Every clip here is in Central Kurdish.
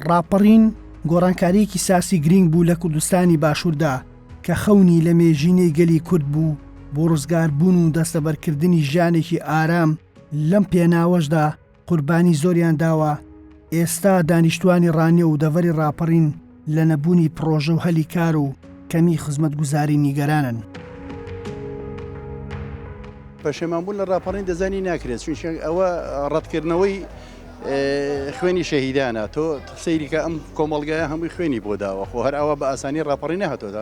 ڕاپەڕین گۆڕانکاریەکی ساسی گرنگ بوو لە کوردستانی باشووردا کە خەونی لە مێژینەی گەلی کورد بوو بۆ ڕزگاربوون و دەستەبەرکردنی ژیانێکی ئارام لەم پێناوەشدا قوربانی زۆریان داوە، ئێستا دانیشتوانی ڕانیە و دەڤەری ڕاپەڕین لە نەبوونی پڕۆژە و هەلی کار و کەمی خزمەتگوزاری نیگەرانن. پەشێمانبوون لە ڕاپەڕین دەزانی ناکرێت چون ئەوە ڕەتکردنەوەی خوێنی شەهیدانە تۆ سەیریکە ئەم کۆمەڵگای هەمووی خوێنی بۆ داوە خۆ هەر ئەوە بە ئاسانی ڕاپەڕی نەهاتۆدا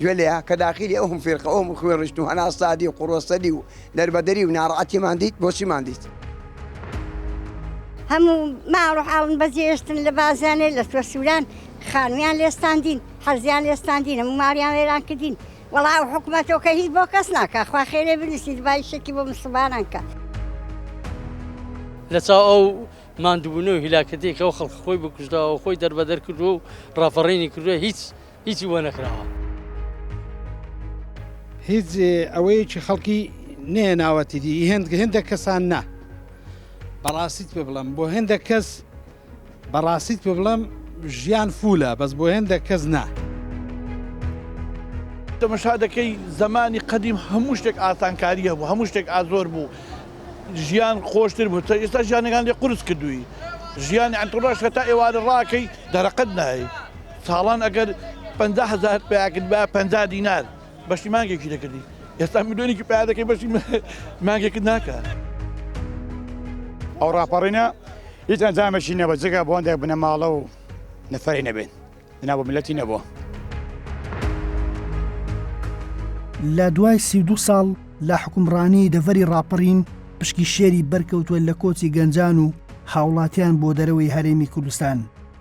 گوێ لێ کە داخیلی ئەوم فیرقە ئەوم خوێ ڕشت و هەنا سادی و قوڕۆسەدی و دەربەدەری و ناڕعەتیمان دیت بۆچیمان دیت. هەموو ماڕحاون بەجێشتن لە بازانێ لە توە سووران خانویان لێستاندین حەزیان لێستاندین هەموو ماریان وێران کردین وەڵا و حکوومەتۆکە هیچ بۆ کەس ناکە خوا خێرێ بنووسی دوای شەکی بۆ مسلمانانکە. لە چاو ئەو ماندوونە و هیلاکەتێکەوە خەڵک خۆی بکوژداوە خۆی دەربەدەر کردووە و ڕاپەڕینی کردووە هیچ هیچی بۆ نەکراوە. هیچ ئەوەیەکی خەڵکی نەیەناوەتی دی هێند هێندە کەسان نا بەڕاستیت پێ بڵم بۆ هێندە کەس بەڕاستیت پێ بڵم ژیان فولە بەس بۆ هێندە کەس نا. تەمەشا دەکەی زەمانی قەدیم هەموو شتێک ئاسانکاری هەبوو هەموو شتێک ئازۆر بوو ژیان خۆشتر بوو ئێستا ژیانەکان لێ قورس کردووی ژیانی ئەتوڕاش هەتا ئێوارە ڕاکەی دەرەقەت نایت. ساڵان ئەگەر پەنجا هەزارت پیا کردبا پەنجا دینار بەشی مانگێکی دەکردی ئێستا ملیۆنێکی پیا دەکەی بەشی مانگێکت ناکات. ئەو ڕاپەڕینە هیچ ئەنجامێکی نەبە جگە بۆ هەندێک بنەماڵە و نەفەری نەبێت دنا بۆ ملەتی نەبووە. لە دوای سی دو ساڵ لە حکومڕانی دەڤەری ڕاپەڕین پشکی شێری بەرکەوتووە لە کۆچی گەنجان و هاوڵاتیان بۆ دەرەوەی هەرێمی کوردستان.